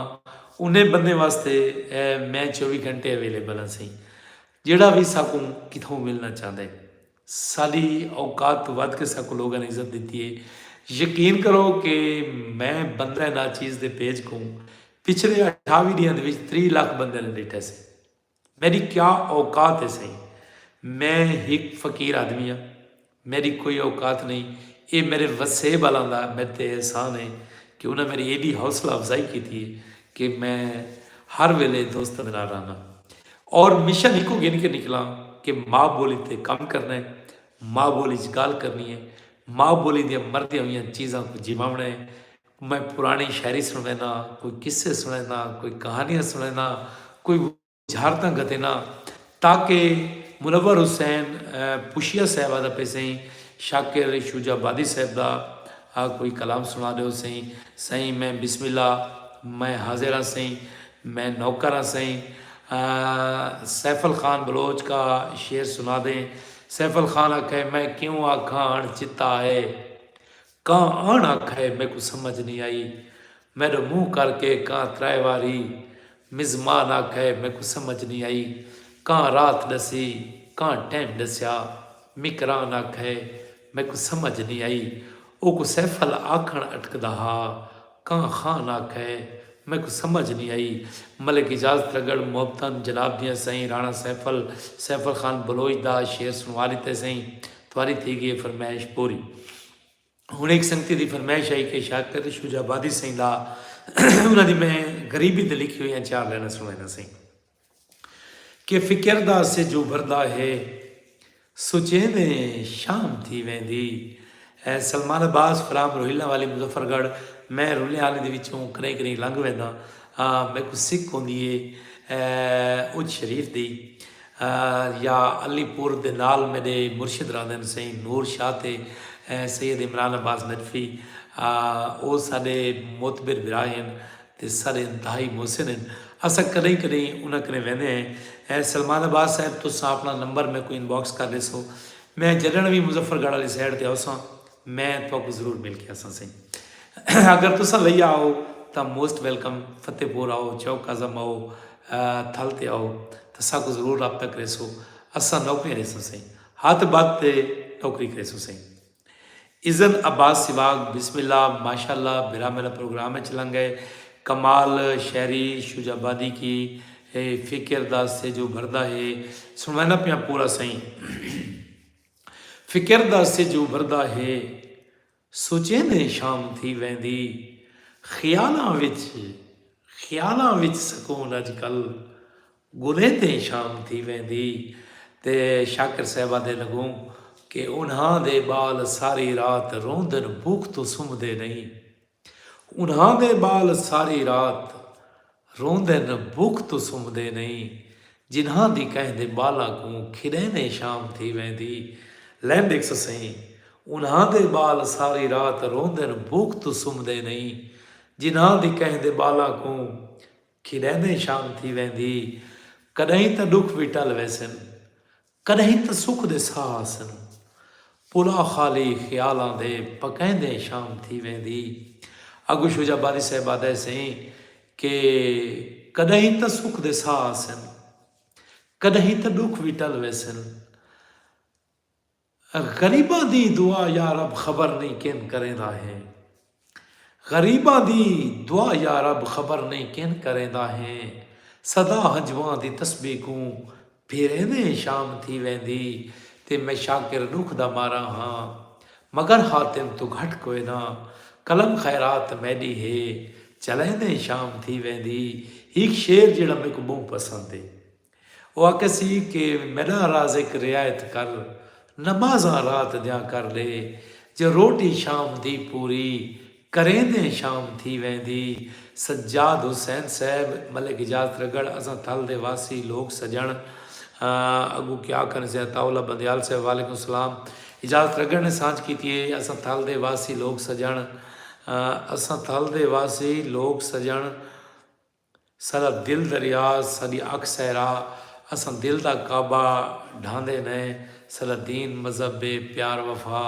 انہیں بندیں واسطے اے میں چووی گھنٹے اویلیبل ہاں سئیں جیڑھا وی ساکوں کتھوں ملنا چاہندے۔ ساڈی اوقات توں ودھ کے ساکوں لوگاں نے عزت ڈتی ہے۔ یقین کرو کہ میں بندہ ناچیز دے پیج کوں پچھلے اٹھاوی ڈینہاں دے وچ تریہہ لکھ بندیاں نے ڈیٹھا سی۔ میڈی کیا اوقات ہے سئیں۔ میں ہک فقیر آدمی ہاں۔ میڈی کوئی اوقات نئیں۔ ایہ میڈے وسیب آلاں دا میڈے تے احسان ہے کہ انہاں میڈی ایڈی حوصلہ افزائی کیتی ہے کہ میں ہر ویلے دوستاں دے نال رہناں۔ اور مشن ہکو گھن کے نکلاں کہ ماء بولی تے کم کرنا ہے، ماء بولی اچ گالھ کرنی ہے، ماء بولی دیاں مردیاں ہویاں چیزاں کوں جیواوݨا ہے۔ میں پراݨی شاعری سݨوینداں ہاں، کوئی قصے سݨوینداں، کوئی کہانیاں سݨوینداں، کوئی وزارداں گھتینداں تاکہ منور حسین پوشیہ صاحب آہدا پئے سئیں شاکر شجاع آبادی صاحب دا کوئی کلام سݨا ݙیو سئیں، سئیں میں بسم اللہ میں حاضر ہاں سئیں، میں نوکر ہاں سئیں۔ سیفل خان بلوچ کا شعر سنا دیں۔ سیفل خان آکھئے میں کیوں آکھاں اݨ چتا اے۔ کاں اݨ آکھئے میکوں سمجھ نی آئی۔ میڈو منہ کر کے کاں ترائے واری۔ مزمان آکھئے میکوں سمجھ نی آئی۔ کاں رات ڈسی کاں ٹیم ڈسیا۔ مکران آکھئے میکوں سمجھ نی آئی۔ اوکوں سیفل آکھݨ اٹکدا ہا۔ کاں خان آکھے میکوں سمجھ نی آئی ملک اجازت لگڑ محبتاں جناب دیاں سئیں رانا سیفل سیفل خان بلوچ دا شعر سنوا لیتے سئیں تواری تھی گی اے فرمائش پوری ہن ہک سنگتی دی فرمائش آئی کہ شاکر شجاع آبادی سئیں لا انہاں دی میں غریبی تے لکھی ہویاں چار لائناں سنوینداں سئیں۔ کہ فکر دا سجھ ابھردا ہے سوچیندیں شام تھی ویندی ہے سلمان عباس فرام روہیلاں والی مظفر گڑھ میں رلیاں آلیں دے وچوں کرئیں کرئیں لنگھ وینداں ہاں میکوں سک ہوندی ہے اچ شریف دی یا علی پور دے نال میڈے مرشد رہندن سئیں نور شاہ تے سید عمران عباس نجفی او ساڈے معتبر بھرا ہن تے سارے انتہائی محسن ہن۔ اساں کݙاہیں کݙاہیں انہاں کنیں ویندے ہیں۔ اے سلمان عباس صاحب تساں اپݨا نمبر میکوں انباکس کر ݙیسو۔ میں جݙݨ وی مظفر گڑھ آلی سائیڈ تے ہوساں میں تہاکوں ضرور مل کے آساں سئیں۔ اگر تساں لئی آؤ تاں موسٹ ویلکم فتح پور آؤ چوک اعظم آؤ تھل تے آؤ تاں ساکوں ضرور رابطہ کریسو۔ اساں نوکریاں ݙیسوں سئیں۔ ہتھ ٻدھ تے نوکری کریسوں سئیں۔ عزت عباس سواگ بسم اللہ ماشاء اللہ بھرا میرا پروگرام اچ لنگ گئے کمال شعری شجاع آبادی کی ہے فکر دا سیجو بھردا ہے سنوینا پیاں پورا سائیں فکر دا سیجو بھردا ہے سوچیں دے شام تھی ویندی خیالاں وچ خیالاں وچ سکون اج کل گلیں تے شام تھی ویندی تے شاکر صاحبہ دے لگوں کہ انہاں دے بال ساری رات روندن بھوک توں سمدے نئیں انہاں دے بال ساری رات روندن بھوک توں سمدے نئیں جنہاں دی کہیں دے بالاں کوں کھڑیں دے شام تھی ویندی لینڈکس سئیں انہاں دے بال ساری رات روندن بھوک توں سمدے نئیں جنہاں دی کہیں دے بالاں کوں کھیݙیندے شام تھی ویندی۔ کݙاہیں تاں ݙکھ وی ٹل ویسن۔ کݙاہیں تاں سکھ دے ساہ آسن۔ پلا خالی خیالاں دے پکیندے شام تھی ویندی۔ اڳوں شجاع باری صاحب آہدے سئیں کہ کݙاہیں تاں سکھ دے ساہ آسن۔ کݙاہیں تاں ݙکھ وی ٹل ویسن۔ غریباں دی دعا یارب خبر نئیں کن کریندا ہیں غریباں دی دعا یارب خبر نئیں کن کریندا ہیں صدا ہنجواں دی تسبیح کوں پھیریندے شام تھی ویندی تے میں شاکر ڈکھ دا مارا ہاں مگر حاتم توں گھٹ کوئے نہ قلم خیرات میڈی ہے چلیندے شام تھی ویندی ہیک شعر جیڑا میکوں بہوں پسند ہے۔ او آکھسی کہ میڈاں رازق رعایت کر نمازاں رات دیاں کر لے جے روٹی شام دی پوری کریندیں شام تھی ویندی سجاد حسین صاحب ملک اجاز ترگڑھ اساں تھل دے واسی لوک سجنڑ اگوں کیا آکھن سے عطاء اللہ بندیال صاحب وعلیکم السلام اجاز ترگڑھ نے سانجھ کیتی ہے اساں تھل دے واسی لوک سجنڑ اساں تھل دے واسی لوک سجنڑ ساݙا دل دریا ساݙی اکھ صحرا اساں دل دا کعبہ ڈھاندے نئے ساݙا دین مذہب اے پیار وفا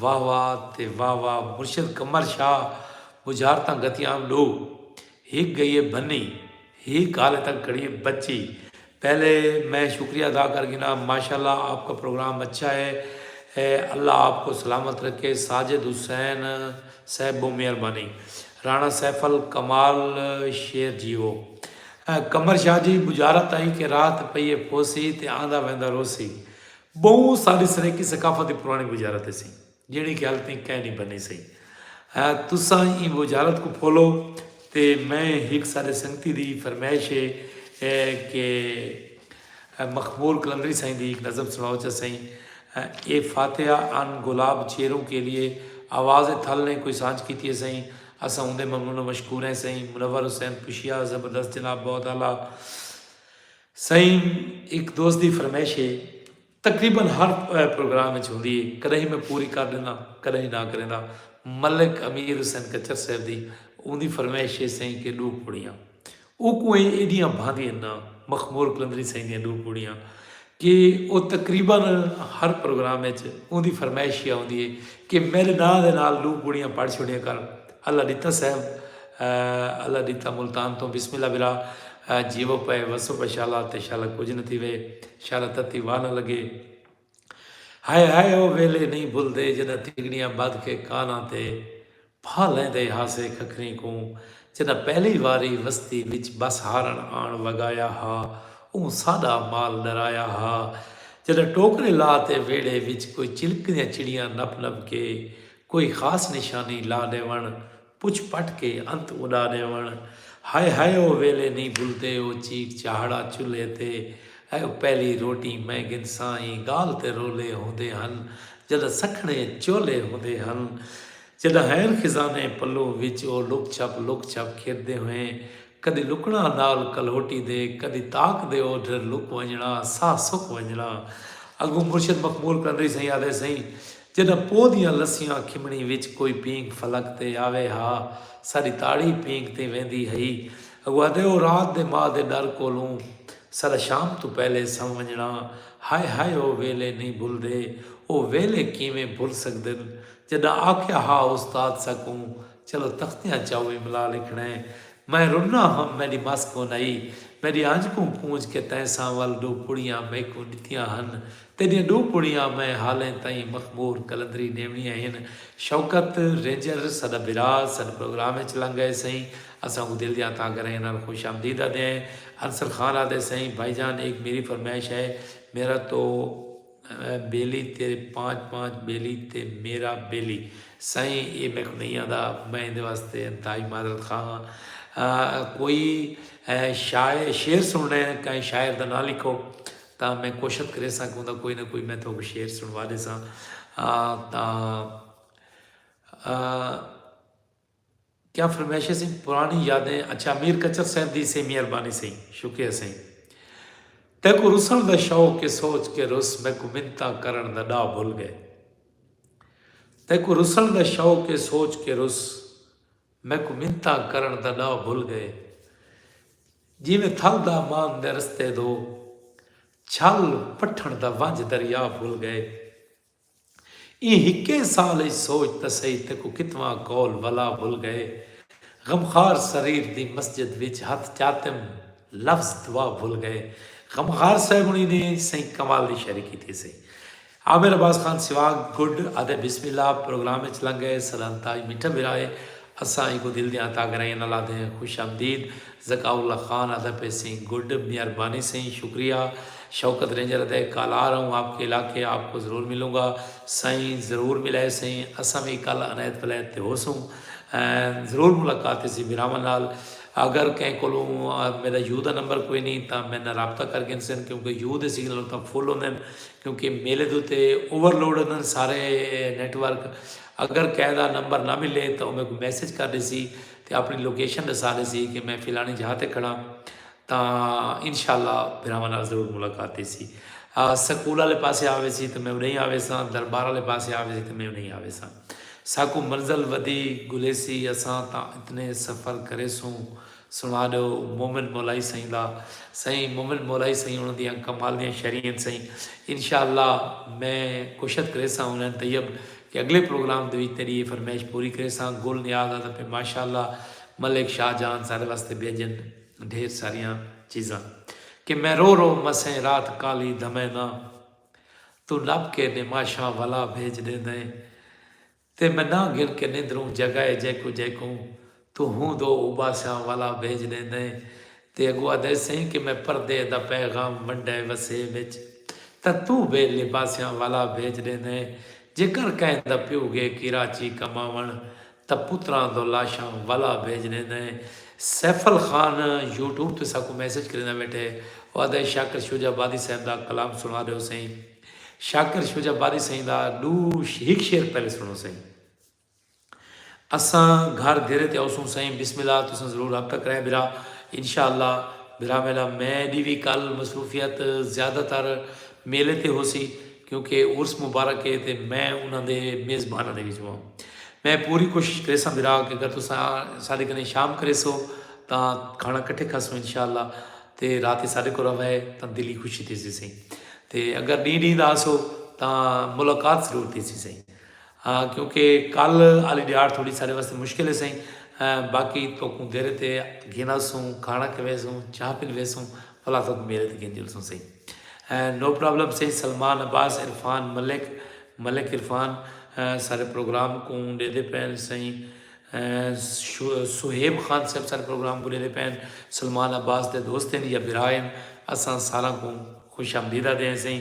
واہ واہ تے واہ واہ مرشد قمر شاہ بجھارتاں گھتیاں ݙو ہک ڳئی اے بھنی ہک حالے تک کھڑی اے بچی پہلے میں شکریہ ادا کر گھنا۔ ماشاءاللہ آپ کا پروگرام اچھا ہے اللہ آپ کو سلامت رکھے ساجد حسین صاحب بہوں مہربانی رانا سیف ال کمال شیر جیو قمر شاہ جی بجارت آئی کہ رات پئیے پوسی تے آندا ویندا روسی بہوں ساڈی سریکی ثقافت دی پرانی بجارت ہسی۔ جیڑھی کہ ہل تئیں کائنی بنی سئی ہ تساں ایں وجارت کوں پھولو تے میں ہک ساڈے سنگتی دی فرمائش ہے کہ مخمور قلندری سائیں دی ہک نظم سنڑاؤ چا سئیں اے فاتحہ ان گلاب چیروں کے لیے آواز تھل نے کوئی سانجھ کیتی ہے سئیں اساں اوندے ممنون و مشکور ہیں سئیں منور حسین پشیا زبردست جناب بہت اعلی سئیں ہک دوست دی فرمائش ہے۔ تقریبا ہر پروگرام اچ ہوندی اے کڈاہیں میں پوری کر ڈیندا کڈاہیں نہ کریندا ملک امیر حسین کچھر صاحب دی اوندی فرمائش اے سئیں کے ڈو پوڑیاں اوکوں ایں ایڈیاں بھاندی ان نا مخمور قلندری سئیں دیاں ڈو پوڑیاں کے او تقریبا ہر پروگرام اچ اوندی فرمائش اے ہوندی اے کے میڈے ناں دے نال ڈو پوڑیاں پڑھ چھوڑیا کر اللہ ڈتا صاحب اللہ ڈتا ملتان توں بسم اللہ برا جیوو پئے وسو پئے شالا تے شالا کجھ نہ تھیوے شالا تتی واہ نہ لگے ہائے ہائے او ویلے نہیں بھلدے جڈا تیگڑیاں بدھ کے کاناں تے پھا لیندے ہاسے کھکھریں کوں جڈا پہلی واری وستی وچ بس ہارن آن وگایا ہا اوں ساڈا مال ڈرایا ہا جڈا ٹوکرے لا تے ویڑھے وچ کوئی چلکدیاں چڑیاں نپ نپ کے کوئی خاص نشانی لا ݙیوݨ پچھ پٹ کے انت اݙا ݙیوݨ ہائے ہائے او ویلے نی بھلدے او چیک چاہڑا چلھے تے اے او پہلی روٹی میں گھنساں ایں ڳالھ تے رولے ہوندے ہن جݙاں سکھڑے چولھے ہوندے ہن جݙاں ہئین خزانے پلوں وچ او لک چھپ لک چھپ کھیݙدے ہوئیں کدی لکݨا نال کلہوٹی دے کدی تاک دے او ڈھر لک ونڄݨا ساہ سک ونڄݨا اڳوں مرشد مخمور کنڈری سئیں آہدے سئیں جݙاں پو دیاں لسیاں کھمݨی وچ کوئی پینک فلک تے آوے ہا ساݙی تاڑی پینک تیں ویندی ہئی اڳوں آہدے او رات دے ماء دے ݙر کولوں ساݙا شام توں پہلے سݨ ونڄݨا ہائے ہائے او ویلے نئیں بھلدے او ویلے کیویں بھل سڳدن جݙاں آکھیا ہا استاد ساکوں چلو تختیاں چاؤ املا لکھݨے میں رنا ہم میݙی مس کون آئی میݙی آنج کوں پونج کے تیں ساں ول ݙو پڑیاں میکوں ݙتیاں ہن تیݙیاں ݙو پڑیاں میں حالیں تئیں مخمور قلندری ݙیوݨیاں ہن شوکت رینجر ساݙا بھرا ساݙ پروگرام اچ لنگ ائے سئیں اساں کوں دل دیاں تہہ گھرائیں نال خوش آمدید آدھیں عنصر خان آدھے سئیں بھائی جان ایک میری فرمائش ہے میرا تو بیلی تیرے پانچ پانچ بیلی تے میرا بیلی سائیں اے میکوں نہیں آندا میں ایندے واسطے انتہائی معذرت خواہ ہاں کوئی شاعر شعر سنڑے کہیں شاعر دا ناں لکھو تاں میں کوشت کریساں کہ اوندا کوئی نہ کوئی میں تھوک شعر سنڑوا دیساں تاں کیا فرمائش ہے سئیں پرانی یادیں اچھا میر کچر صاحب دی سئیں مہربانی سئیں شکریہ سئیں تیکو رسن دا شوق کے سوچ کے رس میکو منتا کرن دا ڈا بھل گئے تیکو رسن دا شوق کے سوچ کے رس میکو منتا کرن دا ڈا بھل گئے جی میں تھل دا مان دے رستے دو چھل پٹھن دا ونج دریا بھل گئے ایں ہکے سال اچ سوچ تاں سہی تیکوں کتواں قول ولا بھل گئے۔ غمخوار سریر دی مسجد وچ ہتھ چاتم لفظ دعا بھل گئے۔ غمخوار صاحب ہنی نے سئیں کنوال دی شاعری کیتی ہسی۔ عامر عباس خان سواگ گڈ آدھے بسم اللہ پروگرام اچ لنگ گئے۔ سدھانتا اج میٹھا بھرا ہے۔ اساں ایکوں دل دیاں عطا گرائیاں نال آدھدے ہیں خوش آمدید ذکاء اللہ خان آدھا پئے سئیں گڈ مہربانی سئیں شکریہ شوکت رینجر آدھا ہے کل آ رہا ہوں آپ کے علاقے آپ کو ضرور ملوں گا سائیں ضرور ملائے سئیں اساں وی کل عنایت ولایت تے ہوسوں ضرور ملاقات تھیسی بھراواں نال اگر کہیں کولوں میڈا یو دا نمبر کوئی نہیں تاں میڈے نال رابطہ کر گھنسن کیونکہ یو دے سگنل اتھاں فل ہوندن کیونکہ میلے دے اتے اوور لوڈ ہوندن سارے نیٹ ورک اگر کہے دا نمبر نہ ملے تاں او میکوں میسج کر ݙیسی تے آپݨی لوکیشن ݙسا ݙیسی کہ میں فلاݨی جاہ تے کھڑاں تاں انشاء اللہ بھراواں نال ضرور ملاقات تھیسی۔ سکول آلے پاسے آ ویسی تاں میں اݙاہیں آ ویساں، دربار آلے پاسے آ ویسی تاں میں اݙاہیں آ ویساں۔ ساکوں منزل ودی گھلیسی اساں تاں اتنے سفر کریسوں۔ سنڑا ڈیو مومن مولائی سئیں دا۔ سئیں مومن مولائی سئیں انہاں دیاں کمال دیاں شعری ہن سئیں۔ انشاء اللہ میں کوشت کریساں ہونین طیب کہ اگلے پروگرام دے وچ تیڈی اے فرمائش پوری کریساں گل نیاز آدھا پئے ماشاء اللہ ملک شاہ جہان ساڈے واسطے بھیجن ڈھیر ساریاں چیزاں کہ میں رو رو مسیں رات کالی دھمیں ناں توں نپ کے نماشاں ولا بھیج ڈیندیں تے میں ناں گھن کے نندروں جگائے جیکوں جیکوں توں ہوں دو اوباساں والا بھیج ڈیندیں تے اگو آدھے سئیں کہ میں پردے دا پیغام ونڈے وسے وچ تاں توں بے لباساں والا بھیج ڈیندیں جے کر کہیں دا پیو گے کیراچی کماون تاں پتراں دو لاشاں والا بھیج ڈیندیں سیفل خان یوٹیوب تے ساکوں میسج کریندا ویٹھے او آدھے شاکر شجاع آبادی صاحب دا کلام سنا ڈیو سئیں۔ شاکر شجاع باری سئیں دا ڈو ہک شعر پہلے سنڑو سئیں۔ اساں گھر دیرے تے اوسوں سئیں بسم اللہ تساں ضرور رابطہ کرائیں بھرا انشاء اللہ بھرا میلا میں دی وی کل مصروفیت زیادہ تر میلے تے ہوسی کیونکہ عرس مبارک ہے تے میں انہاں دے میزباناں دے وچوں ہاں میں پوری کوشش کریساں بھرا کہ اگر تساں ساڈے کنے شام کریسو تاں کھانا کٹھے کھاسوں انشاء اللہ تے رات ساڈے کولھ رہوے تاں دل ای خوشی تھیسی سئیں۔ تے اگر ݙینہہ ݙینہہ دا آسو تاں ملاقات ضرور تھیسی سئیں ہاں کیونکہ کل آلی ݙیہاڑ تھوڑی سارے واسطے مشکل ہے سئیں باقی تہاکوں دیرے تے گھن آسوں کھاݨا کھویسوں چاہ پلویسوں بھلا تہاکوں میرے تے گھن چلسوں سئیں نو پرابلم سئیں سلمان عباس عرفان ملک ملک عرفان سارے پروگرام کوں ݙیدھے پئن سئیں صہیب خان صاحب سارے پروگرام کوں ݙیدھے پئن سلمان عباس دے دوست ہن یا بھرا ہن اساں ساراں کوں خوش آمدید آدھے ہیں سئیں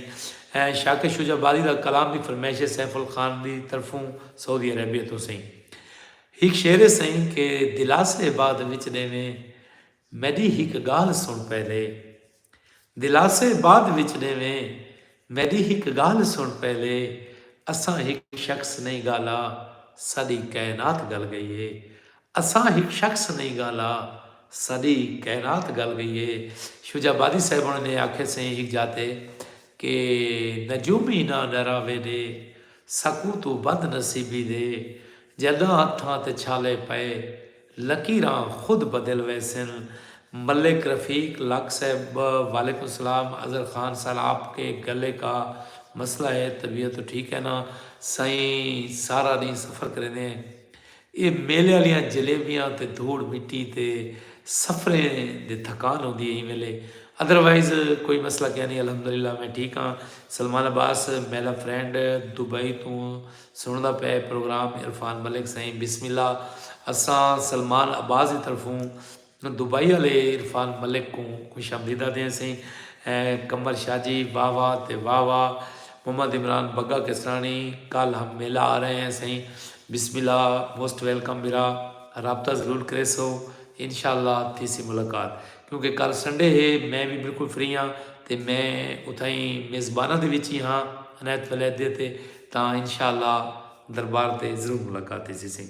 شاکر شجاع آبادی دا کلام دی فرمائش ہے سیف الخان دی طرفوں سعودی عربیہ توں سئیں ہک شعر ہے سئیں کہ دلاسے بعد وچ ڈیویں میڈی ہک گالھ سن پہلے دلاسے بعد وچ ڈیویں میڈی ہک گالھ سن پہلے اساں ہک شخص نہیں گالا ساڈی کائنات گل گئی ہے اساں ہک شخص نئیں گالا ساڈی کائنات گل گئی اے شجاع آبادی صاحب ہونے نے آکھے سئیں ہک جاہ تے کہ نجومی ناں ڈراوے ڈے ساکوں توں بد نصیبی دے جڈاں ہتھاں تے چھالے پئے لکیراں خود بدل ویسن ملک رفیق لاکھ صاحب وعلیکم سلام اظہر خان سر آپ کے گلے کا مسئلہ ہے طبیعت تو ٹھیک ہے ناں سائیں سارا ڈینہہ سفر کریندے ہیں اے میلے آلیاں جلیبیاں تے دھوڑ مٹی تے سفریں دی تھکان ہوندی اے ایں ویلے ادروائز کوئی مسئلہ کینی الحمدللہ میں ٹھیک ہاں سلمان عباس میلا فرینڈ دبئی توں سنڑدا پئے پروگرام عرفان ملک سائیں بسم اللہ اساں سلمان عباس دی طرفوں دبئی آلے عرفان ملک کوں خوش آمدید آدھے ہسیں۔ قمر شاہ جی واہ واہ تے واہ واہ۔ محمد عمران بگا کسرانی کل ہم میلہ آ رہے ہیں سئیں بسم اللہ موسٹ ویلکم بھرا رابطہ ضرور کریسو انشاءاللہ تھیسی ملاقات کیونکہ کل سنڈے ہے میں وی بالکل فری ہاں تے میں اتھائیں میزباناں دے وچ ہی ہاں عنایت ولیدے تے تاں انشاءاللہ دربار تے ضرور ملاقات تھیسی سئیں۔